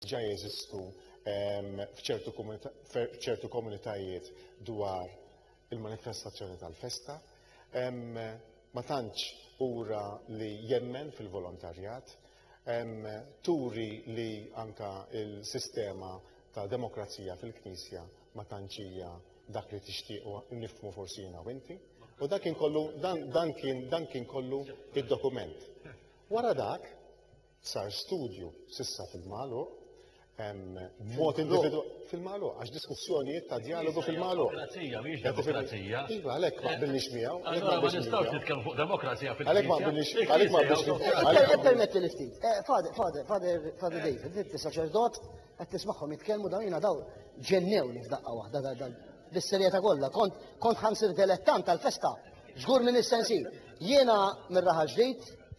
ġa jeżistu f'ċertu komunitajiet dwar il-manifestazzjoni tal-festa. Ma tantx ura li jemmen fil-volontarjat, turi li anka il-sistema ta' demokrazija fil-Knisja ma tantx hija dak li tixtieq u nifmu forsi jiena u inti. U dak kien kollu, dan kien kollu id-dokument. Wara dak, Sar studju s'issa fil-magħluq mod individu fil-malu, għax diskussjonijiet ta' dialogu fil-malu. Demokrazija, miex demokrazija. Iva, għalek ma billix miegħu. Allora ma nistgħux nitkellmu fuq demokrazija fil Għalek ma billix, għalek ma billix. Għalek permetti li ftit. Eh, fader, fader, fader, fader David, inti saċerdot, qed tismagħhom jitkellmu dawn jiena daw ġennew li f'daqqa waħda bis-serjetà kollha. Kont kont ħansir dilettant tal-festa. Żgur minn is-sensi. Jiena mir-raħal ġdid,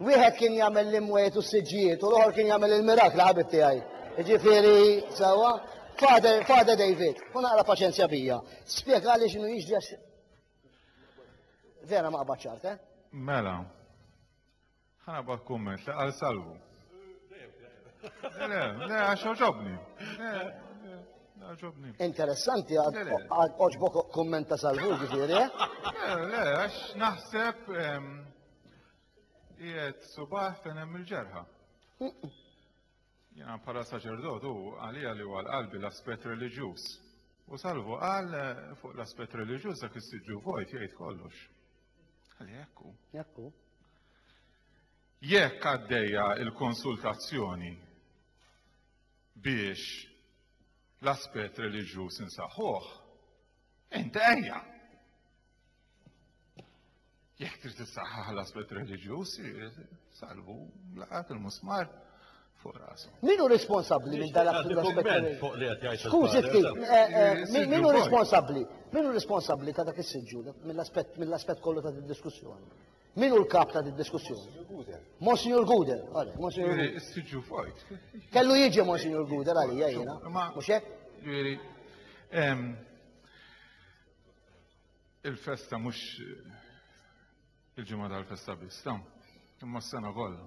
Wieħed kien jagħmel l-imwiet u s-siġġijiet u l-oħor kien jagħmel il-mirakli ħabib tiegħi. Jiġifieri sewwa, Father, Father David, u naqra paċenzja bija. Spjegali x'inhu jiġri għax vera ma qabad ċart, eh? Mela, ħana bak kumment li għal salvu. Le, le, għax oġobni. Interessanti għad oġbok kummenta salvu ġifiri, eh? Le, le, għax naħseb Qiegħed subaħ fejn hemm il-ġerħa. Jiena bħala saċerdot u għalija li huwa l-qalbi l-aspett reliġjuż. U salvu qal eh, fuq l-aspett reliġjuż dak is-siġġu vojt jgħid kollox. Għalli ekku. Ekku. Jekk għaddejja il-konsultazzjoni biex l-aspett reliġjuż insaħħuh, inti ejja. Jekk trid tissaħħaħ l-aspett reliġjuż, salvu laqat il-musmar fuq rasu. Minu responsabbli minn dan l-aspett? Fuq li qed jgħid. Skużi ftit, eh, eh, eh, minu responsabbli? Minu responsabbli ta' dak is-siġġu mill-aspett mill-aspett kollu ta' diskussjoni? Minu l-kap ta' diskussjoni? Monsignor Guder, għale, Monsignor Guder. Siġġu fajt. Kellu jiġi Monsignor Guder għalija jiena. Mhux hekk? Il-festa mhux il-ġimgħa tal-festa biss, ta' imma s-sena kollha.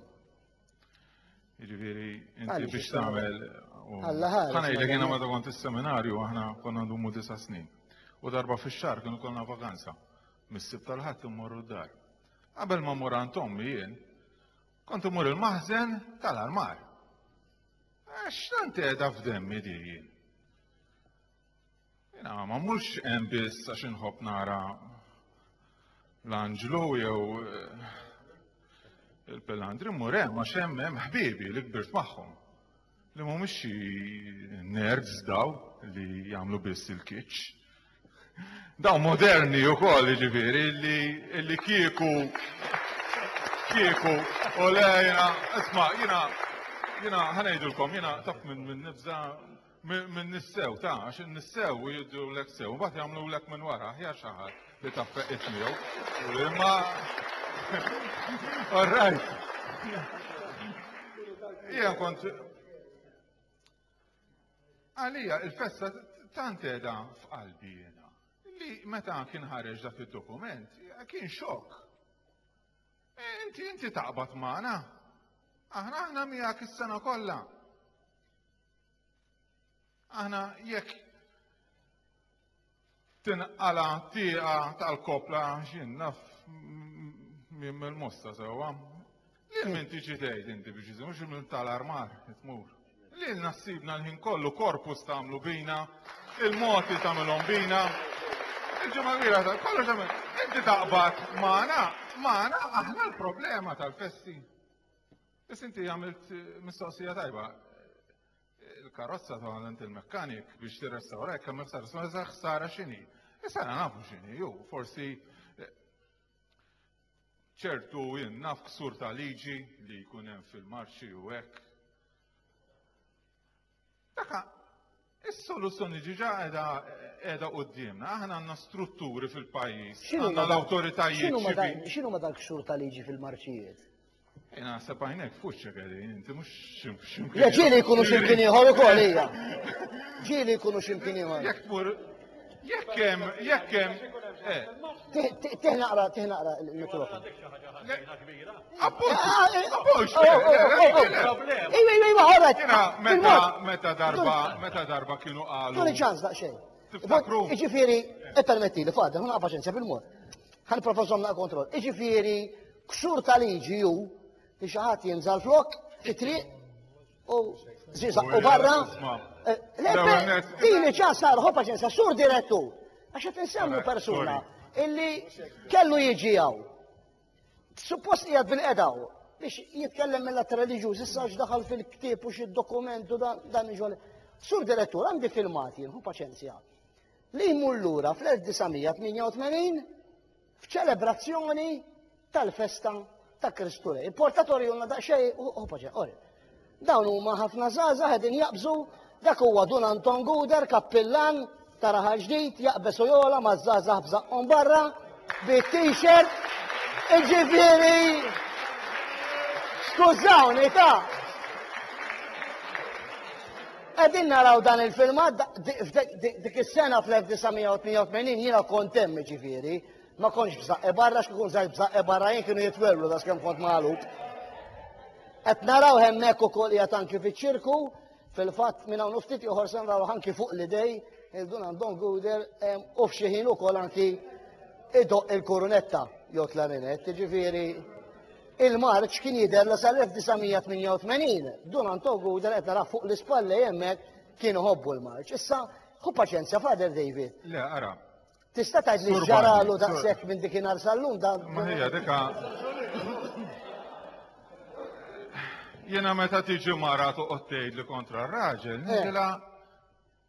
Jiġifieri inti biex tagħmel Alla ħares. Ħana jgħidlek jiena meta kont is-seminarju aħna konna ndumu disa' snin. U darba fix-xahar kienu konna vakanza. Mis-sib tal-ħadd immorru d-dar. Qabel ma mmur għand ommi jien, kont imur il-maħżen tal-armar. Għax tant qiegħda f'demmi di jien. Jena, ma mux hemm biss għax inħobb nara l-anġlu jew eh, il-pelandri mmur hemm għax hemm hemm ħbiebi li kbirt magħhom li mhumiex xi nerds daw li jagħmlu biss il-kiċċ. Daw moderni wkoll jiġifieri li li kieku kieku u lejna isma' jiena jiena ħanejdulkom jiena taf minn nibża' Minn nissew, ta' għax nissew u jiddu l-ek sew, u bat jamlu l-ek minn wara, ħja xaħat li ta' feq ismijaw. Imma. All right. Ija kont. Għalija, il-festa tant edha f'qalbi jena. Li meta kien ħareġ dak il-dokument, kien xok. E, inti, inti taqbat maħna. Aħna, aħna miegħek is-sena kollha. Aħna jekk tinqala tieqa tal-kopla x'jien naf minn mill-mosta sewwa. Lil min tiġi tgħid inti biex iżin, mhux minn tal-armar tmur. Lil nassibna l-ħin kollu korpus tagħmlu bina, il-moti tagħmilhom bina. Il-ġimgħa kbira ta' kollu tagħmel. Inti taqbad magħna, magħna aħna l-problema tal-festi. Biss inti għamilt mistoqsija tajba. Il-karozza ta' għant il-mekkanik biex tirrestawra jekk hemm ħsara, sma eżatt ħsara x'inhi. Issa na nafu x'inhi, ju forsi eh, ċertu jien naf ksur ta' liġi li jkun hemm fil-marċi u hekk. Taka, is-soluzzjoni ġiġa qiegħda qiegħda qudiemna. Aħna għandna strutturi fil-pajjiż, għandna l-awtoritajiet. X'inhu ma dal xhur ta' liġi fil-marċijiet? Jena sepajnek fuċċa għedi, inti mux ximkien. Le ġili jkunu ximkien iħor u koll, ija. Ġili jkunu ximkien iħor. Jek tmur Jekk hemm, jekk hemm. Tih naqra, tih naqra il-mikrofon. Meta darba, meta darba kienu qalu. Tuni ċans daqsxejn. Tiftakru. Iġifieri, e permetti li fadda, ma paċenzja bil-mod. Ħan professor na' kontroll. Iġifieri, ksur ta' liġi ju, li xi ħadd jinżal flok, fit-triq, U ziza u barra. Dini ġa sar ħopa ġensa, sur direttu. Għaxa tinsemmu persuna illi kellu jieġijaw. Suppost jgħad bil-edaw biex jitkellem mill-att religjuż, issa daħal fil-ktib u xi dokument u dan iġol. Sur direttur għandi filmati, hu paċenzja. Li jmur lura fl-1988 f'ċelebrazzjoni tal-festa ta' Kristu Rej. Portatori jonna da' xej u paġa, ori. Dawn huma ħafna zaza għedin jaqbżu dak huwa Dun Anton Guder, kappillan ta' raħal ġdid, jaqbesu jola ma' zaza bżaqqom barra, bi t-shirt, iġifiri. Skużawni ta' Qegħdin naraw dan il-filmat dik is-sena fl-1988 jiena kont hemm jiġifieri, ma kontx b'żaqqi barra x'kikun żgħir b'żaqqi barra jien kienu jitwerwlu da skemm kont magħluq. Qed naraw hemmhekk ukoll qiegħed anki fiċ-ċirku, fil-fatt minn hawn ftit ieħor se naraw anki fuq l-idej il-Dunan Don Guder u f'xi ħin ukoll anki idoq il-kurunetta jew klarinet, jiġifieri Il-marċ kien jidher li sal-1988, Dun Anto Guder qed narah fuq l-ispallej hemmhekk kien iħobbu l-marċ. Issa, ħu paċenzja, Father David. Le, ara. Tista' tgħid li ġaralu daqshekk minn dik inhar sal-lum dan. Ma hija dika. Jiena meta tiġi mara toqgħod tgħidli kontra r-raġel, eh. nidilha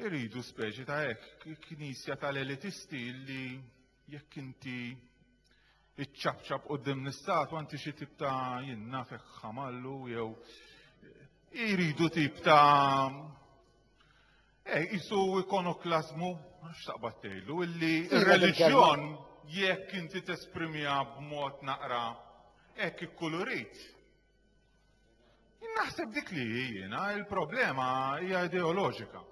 Iridu speċi ta' hekk, knisja tal-elitisti li jekk inti iċċabċab qudiem l-istat anti xi tip ta' jien nafek ħamallu jew iridu tip ta' eh isu ikonoklasmu x'taqbad tgħidu illi iva, r-reliġjon jekk inti tesprimija b'mod naqra hekk ikkulurit Naħseb dik li jiena, il-problema hija ideoloġika.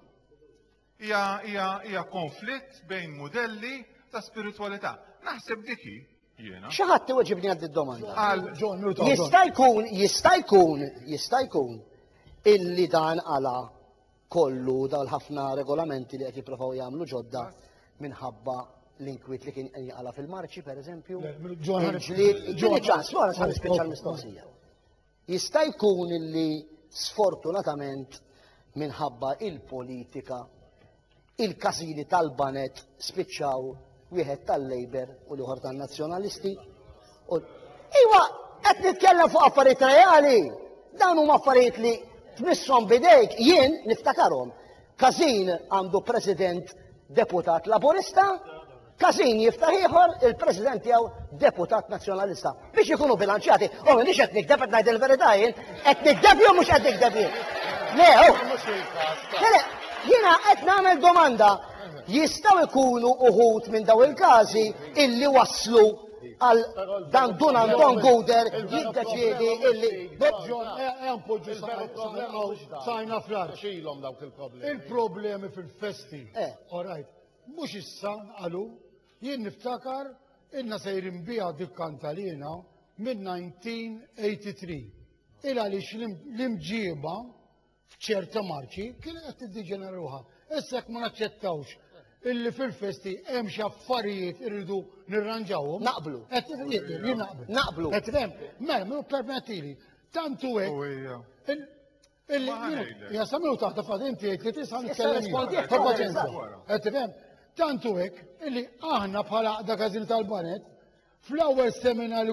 Hija konflitt bejn modelli ta' spiritualità. Naħseb diki jiena. Xi ħadd iweġibni għad id-domanda. Jista' jkun, jista' jkun, jista' jkun illi dan għala kollu dawn ħafna regolamenti li qed jipprovaw jagħmlu ġodda minħabba l-inkwiet li kien qed jaqala fil-marċi pereżempju. Ġieli ċans, wara sa nispiċċa l-mistoqsija. Jista' jkun illi sfortunatament minħabba il-politika il-każini tal-banet spiċċaw wieħed tal-Labour u l-ieħor tan-Nazzjonalisti. Iwa, qed nitkellem fuq affarijiet reali. Dawn huma affarijiet li tmisshom bidejk jien niftakarhom. Każin għandu President Deputat Laburista, Każin jiftaħ ieħor il-President tiegħu Deputat Nazzjonalista. biex ikunu bilanċjati. U oh, minix qed nikdeb qed ngħid il-verità jien, qed nikdeb jew mhux qed nikdeb jien. Le, u. Oh. Le, jiena qed nagħmel domanda. Jistgħu jkunu uħut minn daw il-każi illi waslu għal dan dun Anton Guder jiddeċiedi illi. Ġon, għampoġu eh, eh, sajna fl-arċ. Xilom dawk il-problemi. Il-problemi fil-festi. Eh. All right. Mux issa għalu Jien niftakar ilna sejrin biha dik kantalina mid-1983. Il għaliex l-imġiba f'ċerta marċi kien qed tiddiġenera ruħha. Issa jekk ma naċċettawx illi fil-festi hemm xi affarijiet irridu nirranġawhom. Naqblu. Qed naqblu. Naqblu. Qed mela permettili. Tantu hekk. Ja samiw taħta fad inti jgħid li tisa' nitkellem ta' paċenza. Qed tifhem? Tantu hekk illi aħna bħala għaqda każin tal-banet fl-ewwel seminar